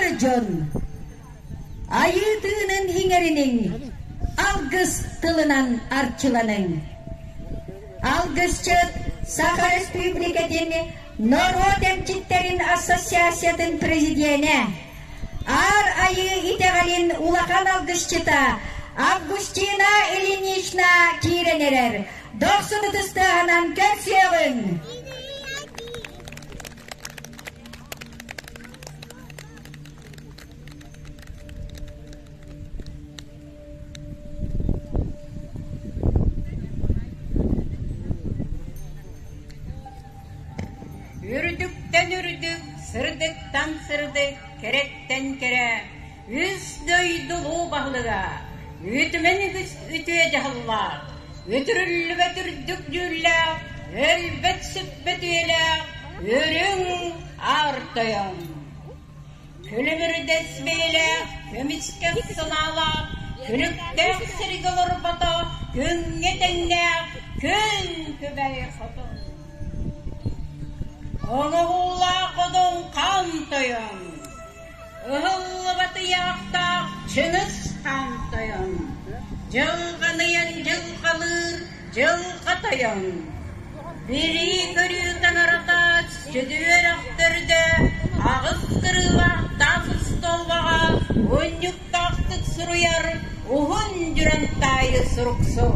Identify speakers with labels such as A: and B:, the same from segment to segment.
A: Эр дьон, Айыы тыынын иҥэриниҥ, алгыс тылынан арчыланыҥ! Алгысчыт Саха Республикатын норуот эмчиттэрин ассоциациятын президенэ, Аар Айыы итэҕэлин улахан алгысчыта Августина Ильинична киирэн эрэр. Дохсун ытыстыаһынан көрсүөҕүҥ! Үрдүктэн үрдүк, сырдыктан сырдык, кэрэттэн кэрэ Үс дойду улуу баһылыга үүтүмэн үгүс үтүө дьаһаллаах, үтүрүллүбэт үрдүк дьүүллээх, өлбөт-сүппэт үйэлээх үрүҥ аартайым. Күлүмүрдэс бэйэлээх, көмүскэх санаалаах, күнүктээх сиригэ олорбото күҥҥэ тэҥнээх күн күбэй хотун. Оҥоһуулаах одун хан тойон, Ыһыллыбат ыйаахтаах Чыҥыс Хаан Тойон Дьылҕаныйан дьылҕалыыр Дьылҕа Тойон Билии көрүү таҥаратаат сүдү үрэхтэрдэ аҕыс кырыылаах таас остуолбаҕа унньуктаахтык суруйар уһун дьүрэн таайы суруксу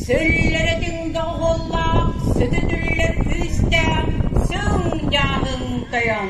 A: Сүллэрэ тиҥгэ оһуоллаах сүтүтүллэр күүстээх сүҥ дьааһын тойон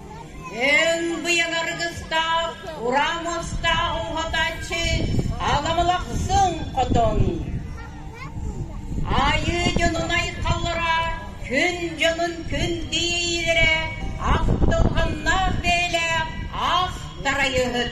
A: Эн быйаҥ аргыстаах, ураа муостаах уһатааччы аламылахсыҥ хотон. Айыы дьонун айхаллара күн дьонун күн диирэ ах долганнаах бэйэлээх ах тарайыһыт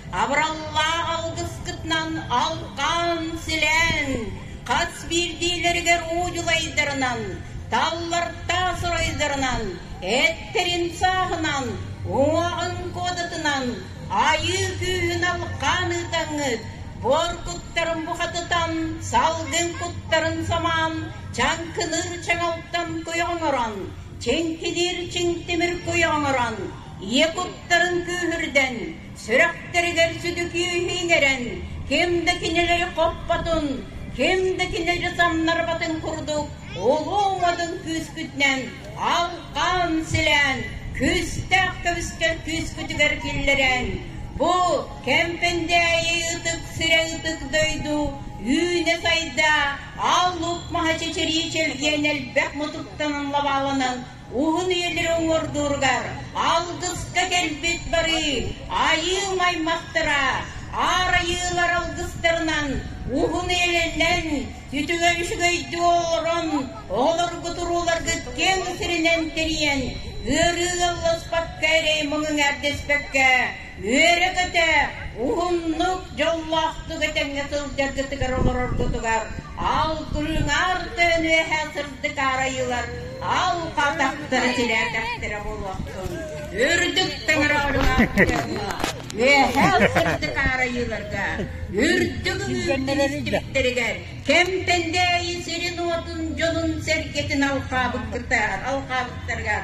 A: Абыраллаах алгыскытынан алҕаан, силээн, хас биирдиилэригэр удьулайдарынан, таллартаах сарайдарынан, эттэрин сааһынан, уоҕун куодатынан айыы күүһүн алҕаан ыытаҥҥыт, буор куттарын бухатытан, салгын куттарын самаан, чаҥкыныыр чаҥалтан куйа оҥорон, чиҥкилиир чиҥтимир куйа оҥорон, ийэ куттарын күүһүрдэн, Сүрэхтэригэр сүдүкүү иһинэрэн ким да кинилэри хоппотун, ким да кинилэри самнарбатын курдук улуу уҥатын күүскүтүнэн алҕаан силээн күүстээх көмүскэл күүскүтүгэр киллэрэн бу Кэмпэндээйи ытык сирэ ытык дойду үүнэ-сайда ал-лук маһа чэчирии чэлгиэн элбэх мутуктанан лабааланан Уһун үйэлэри уҥуордууругар алгыска кэлбит барыы айыым-аймахтара аар айыылар алгыстарынан уһун эйэлэнэн, үтүгэн үчүгэйди олорон, оҕолорго турууларгыт киэҥ сиринэн тэрийэн, ыарыы ыалласпакка эрэй муҥуҥ эрдэспэккэ Үөрэ-көтө, уһуннук, дьоллоохтук этэҥҥэ сылдьаргытыгар олороргутугар алгырыҥар тыын үөһэ сырдык арайыылар алҕатахтара тилээтэхтэрэ буолуохтун. Үрдүк таҥара ылымаахтарга, үөһэ сырдык арайыыларга, үрдүк үҥүүрдүү истириктэригэр Кэмпэндээйи сирин-уотун дьонун сэргэтин алҕаабыккытар, алҕаабыттарыгар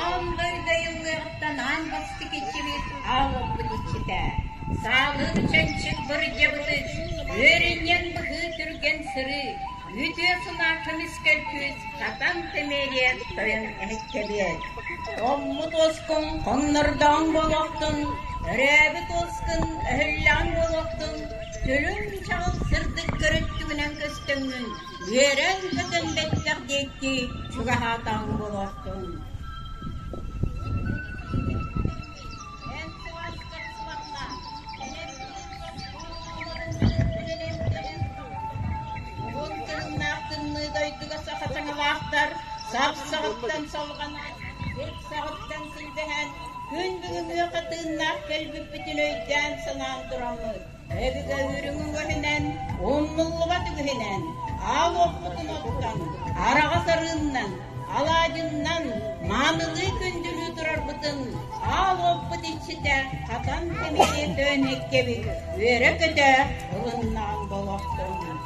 A: Аан дойду айыллыаҕыттан аан бастакы иччилиит аалларбыт иччитэ. Саалын чанчык бырдьабытыт, үөрүнньэн быһыы түргэн сырыы, үтүө сунаа көмүскэл күүс сатан тэмиэрийэн тойон эһиккэлиэн. Томмут уоскун хоннордоҕун буолуохтун, өрөөбүт уоскун өһүллэҕин буолуохтун, Сүрүн чаҕыл сырдык көрүттүгүнэн көстөҥҥүн үөрэн-көтөн бэттэх диэки чугаһаатаҕыҥ буолуохтун сүбэһэн күн бүгүҥҥү хатыыннаах кэлбиппитин өйдөөн-санаан тураммыт. Өбүгэ үөрүҥүн уоһунан, умнуллубат үгүһүнэн, аал-уоппутун оттон, араҕас арыыннан, алаадьыннан маанылыы күндүлүү турарбытын аал-уоппут иччитэ хатан кэмитиэ төөн эккэбит үөрэ-көтө ылыннаҕын болохтуҥ.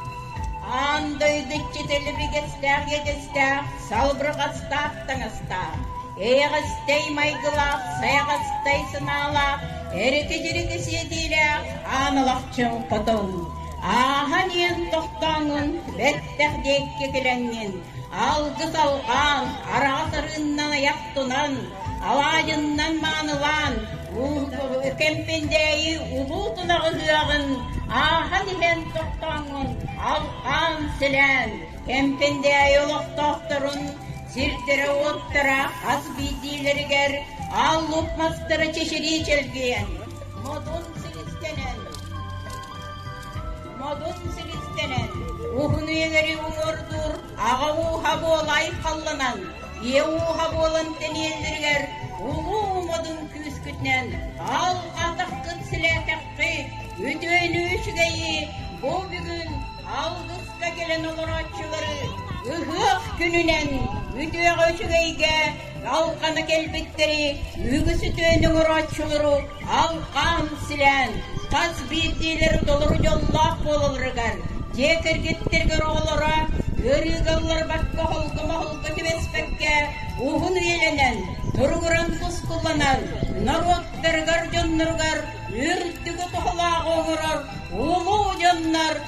A: Аан дойду иччитэ лэбигэстээх иэдэстээх, салбырҕастаах таҥастаах, Эйэҕэстэй майгылаах, сайаҕастай санаалаах, эрики-дьирики сиэтиилээх аан алахчыҥ хотон, ааһан-иэн тохтооҥҥун бэттэх диэкки килэҥҥин, алгыс алҕаан, араҕас арыыннан айах тунан, алаадьыннан маанылаан, кэмпиндээйи улуу тунах ыһыаҕын ааһан иһэн тохтооҥҥун алҕаан, силээн, Кэмпиндээйи олохтоохторун сирдэрэ-уоттара хас биирдиилэригэр ааллыбыт мастара чэчирии чэлгийэн, модун силистэнэн, модун силистэнэн, уһун үйэлэри уҥуордуур аҕа ууһа буола айхалланан, ийэ ууһа буолан тэниэллэригэр улуу модун күүскүтүнэн аалҕаатаххыт-силээтэххит, үтүөнү-үчүгэйи бу бүгүн алгыс Кытта кэлэн олорооччулары ыһыах күнүнэн үтүөҕэ үчүгэйгэ алҕана кэлбиттэри үгүс үтүөнү оҥорооччулару алҕаан силээн тас биирдиилэр толору дьоллоох буолалларыгар дьиэ кэргэттэригэр оҕолоро ыарыыгаллар бакка холго-моһолго түбэспэккэ уһун үйэлэнэн туругуран мускулланар норуоттарыгар дьонноругар үрдүкү туһалааҕы оҥорор улуу дьоннор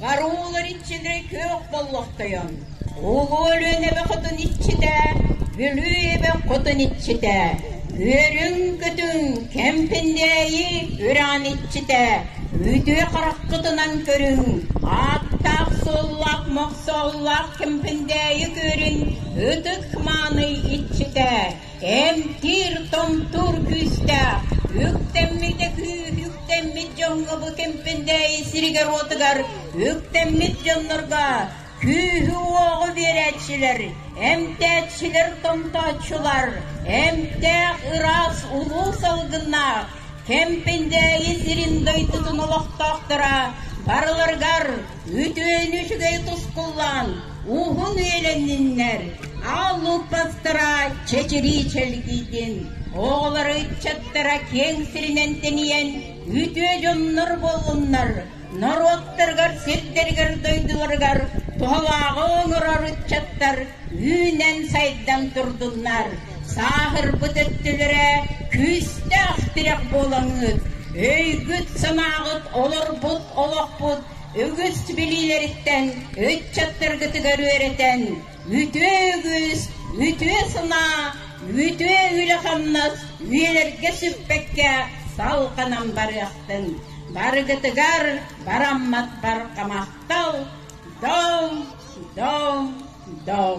A: Караулар иччилэрэ күөх боллохтойон, Улуу Өлүөн эбэ хотун иччитэ, Бүлүү эбэ хотун иччитэ, Үрүҥ-көтүҥ кэмпиндээйи үрэҕин иччитэ, Үтүө хараххытынан көрүҥ, ааттаах-суоллаах мохсооллоох кэмпиндээйи күөрүн ытык мааны иччитэ, Эмтиир томтуур күүстээх, үктэммитэ күүс үктэммит дьоҥҥо бу кэмпэндээйи сиригэр-уотугар үктэммит дьоннорго күүһү-уоҕу биэрээччилэр, эмтээччилэр, томтооччулар, эмтээх ыраас улуу салгыннаах Кэмпэндээйи сирин дойдутун олохтоохторо барыларыгар Үтүөнү үчүгэй тускуллан уһун үөлэнниннэр Ааллыыппастара чэчирии чэлгийдин оҕолор ыччаттара киэҥ сиринэн тэнийэн үтүө дьоннор буоллуннар норуоттарыгар сирдэригэр дойдуларыгар туһалааҕы оҥорор ыччаттар үүнэн сайдан турдуннар Сааһырбыт өттүлэрэ күүстээх тирэх буолаҥҥыт, өйгүт-санааҕыт олорбут олохпут үгүс билиилэриттэн ыччаттаргытыгар үөрэтэн үтүө үгүс, үтүө санаа, үтүө үлэ-хамнас үйэлэргэ сүппэккэ салҕанан барыахтын. Барыгытыгар бараммат барҕа махтал! Доҥ, доҥ, доҥ!